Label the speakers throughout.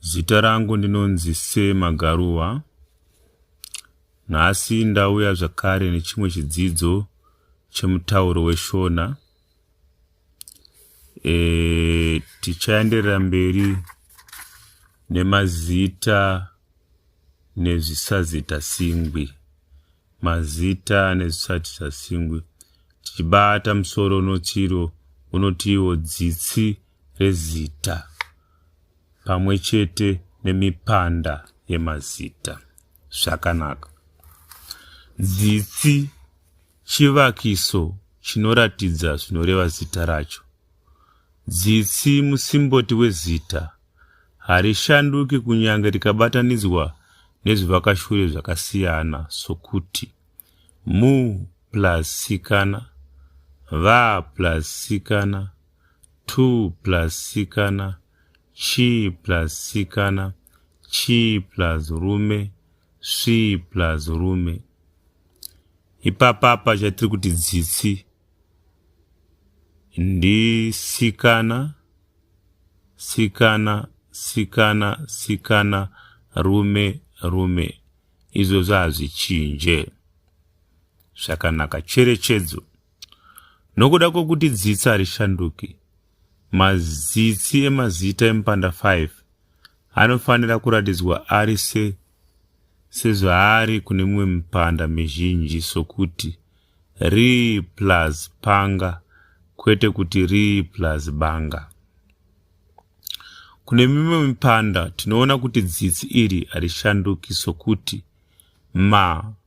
Speaker 1: Zita rangu ndinonzi Se Magaruva. Nhasi ndauya zvakare nechimwe chidzidzo chemutauro weShona. E, tichaenderera mberi nemazita nezvisazita singwi mazita nezvisazita singwi tichibata musoro unotiwo unotiwo dzitsi rezita pamwe chete nemipanda yemazita zvakanaka dzitsi chivakiso chinoratidza zvinoreva zita racho dzitsi musimboti wezita harishanduki kunyange rikabatanidzwa nezvivakashure zvakasiyana sokuti mu plus sikana va plus sikana 2 plus sikana chi plus sikana chi plus rume svi plus rume ipapapa chatiri kuti dzitsi ndisikana sikana sikana sikana rume rume izvozvo hazvichinje zvakanaka cherechedzo Nokuda kwokuti dzitsi harishanduki, mazitsi emazita emupanda 5 anofanira kuratidzwa ari se sezvaari kune mimwe mipanda mizhinji sokuti ri plus panga kwete kuti ri plus banga. Kune mimwe mipanda tinoona kuti dzitsi iri harishanduki sokuti ma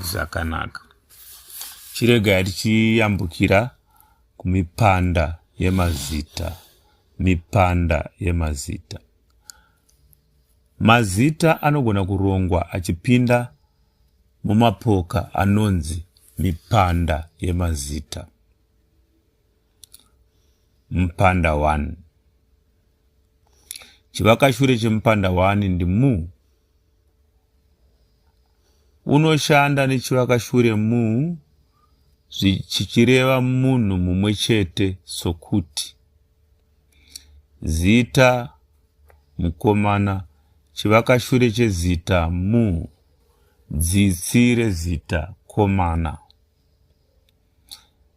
Speaker 1: zvakanaka chiregai tichiyambukira kumipanda yemazita mipanda yemazita mazita anogona kurongwa achipinda mumapoka anonzi mipanda yemazita mupanda 1 chivakashure chemupanda 1 ndimu unoshanda nechivakashure mu chichireva munhu mumwe chete sokuti zita mukomana chivakashure chezita mu dzitsi rezita komana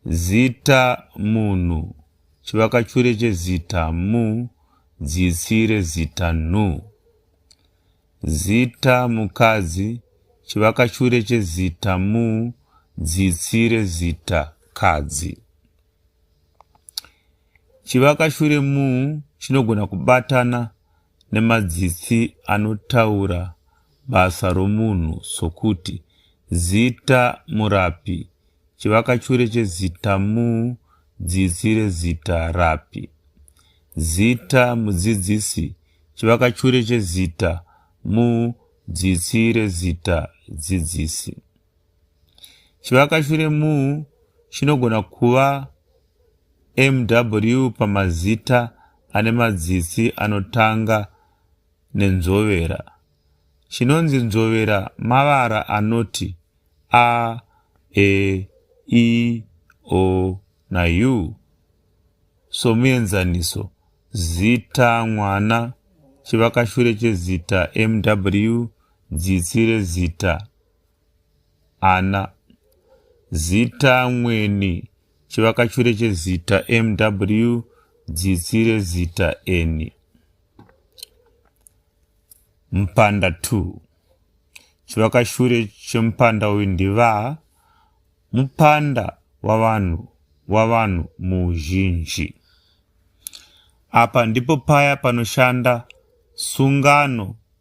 Speaker 1: Zita munhu chivakachure chezita mu dzitsi rezita nhu. Zita mukadzi chivakachure chezita mu dzitsi rezita kadzi. Chivakachure mu chinogona kubatana nemadzitsi anotaura basa romunhu sokuti zita murapi, chivakachure chezita mu, dzitsi rezita rapi, zita mudzidzisi, chivakachure chezita mu, dzitsi rezita dzidzisi. Chivakashure mu chinogona kuva MW pamazita ane madzitsi anotanga nenzovera. Chinonzi nzovera mavara anoti a, e, i, o na u. Somuenzaniso, zita mwana, chivakashure chezita MW, dzitsi rezita ana zita mweni chivakachure chezita mw dzitsi rezita eni mpanda 2 chivakashure chemupanda uyu ndiva mupanda wavanhu wavanhu muuzhinji apa ndipo paya panoshanda sungano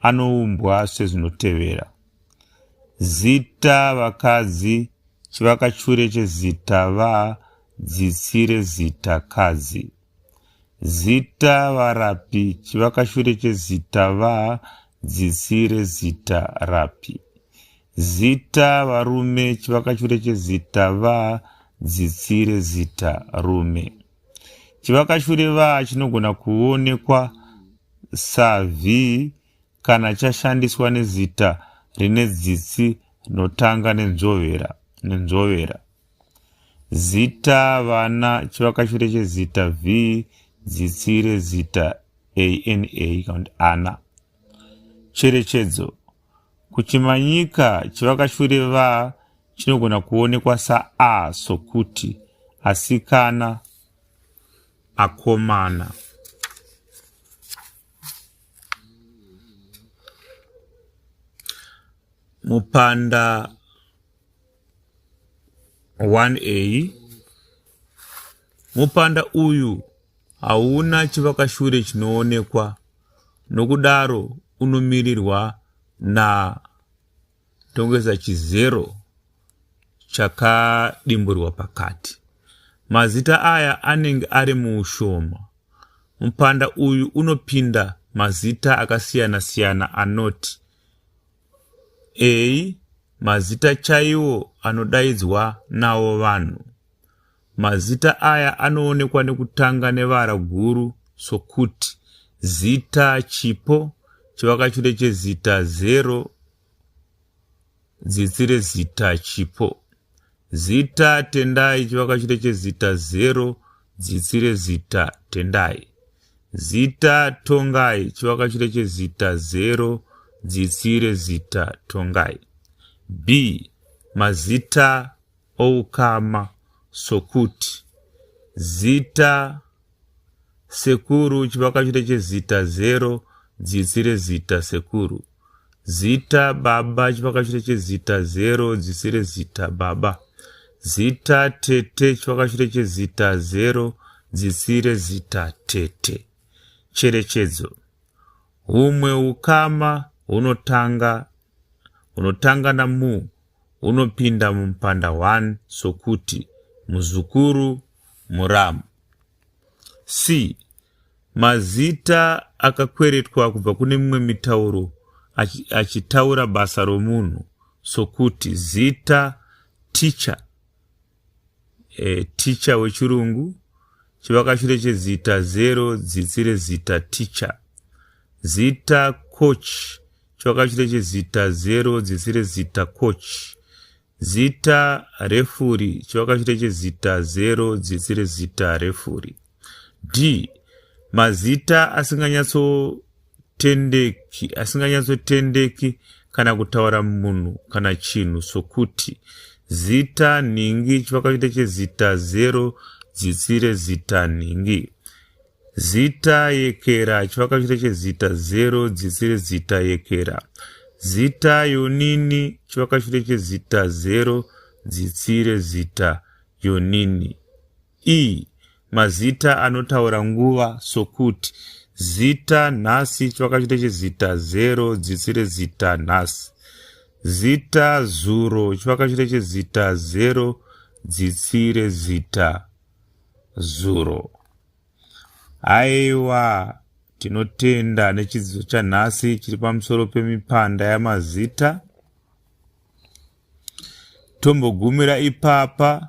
Speaker 1: anoumbwa sezvinotevera. Zita vakadzi chivakachure chezita va dzitsi rezita kadzi. Zita varapi chivakachure chezita va dzitsi rezita rapi. Zita varume chivakachure chezita va dzitsi rezita rume. Chivakashurevaa chinogona kuonekwa savhii kana chashandiswa nezita rine dzitsi rinotanga nenzvovera nenzvovera. Zita vana chivakashure chezita vhii dzitsi rezita ana kana kuti ana. Cherechedzo Kuchimanyika chivakashure va chinogona kuonekwa saa sokuti asikana, akomana. Mupanda 1a mupanda uyu hauna chivakashure chinoonekwa nokudaro unomirirwa naTongeza Chizero chakadimburwa pakati. Mazita aya anenge ari muushoma. Mupanda uyu unopinda mazita akasiyana-siyana anoti. Eyi mazita chaiwo anodaidzwa nawo vanhu. Mazita aya anoonekwa nekutanga nevara guru sokuti zita chipo, chivakachure chezita zero, dzitsi rezita chipo. Zita Tendai chivakachure chezita zero dzitsi rezita Tendai. Zita Tongai chivakachure chezita zero dzitsi rezita Tongai. B. Mazita oukama sokuti zita Sekuru chivakachure chezita zero dzitsi rezita sekuru. Zita baba chivakachure chezita zero dzitsi rezita baba. Zita tete chivakachure chezita zero dzitsi rezita tete. Cherechedzo. Humwe ukama hunotanga hunotanga namu unopinda mumupanda 1 sokuti muzukuru muramu c mazita akakweretwa kubva kune mimwe mitauro achitaura basa romunhu sokuti zita ticha e, ticha wechirungu chivakashure chezita zero dzitsi rezita ticha zita coach chivakashure chezita zero dzitsi rezita coach zita refuri chivakashure chezita zero dzitsi rezita refuri d mazita asinganyatso asinganyatsoitendeki asinganyatsotendeki kana kutaura munhu kana chinhu sokuti zita nhingi chivakaita chezita zero dzitsi rezita nhingi zita yekera chivakaita chezita zero dzitsi rezita yekera zita yonini chivakaita chezita zero dzitsi rezita yonini ii mazita anotaura nguva sokuti zita nhasi chivakachite chezita zero dzitsi rezita nhasi zita zuro chivakachite chezita zero dzitsi rezita zuro aiwa tinotenda nechidzidzo chanhasi chiri pamusoro pemipanda yamazita tombogumira ipapa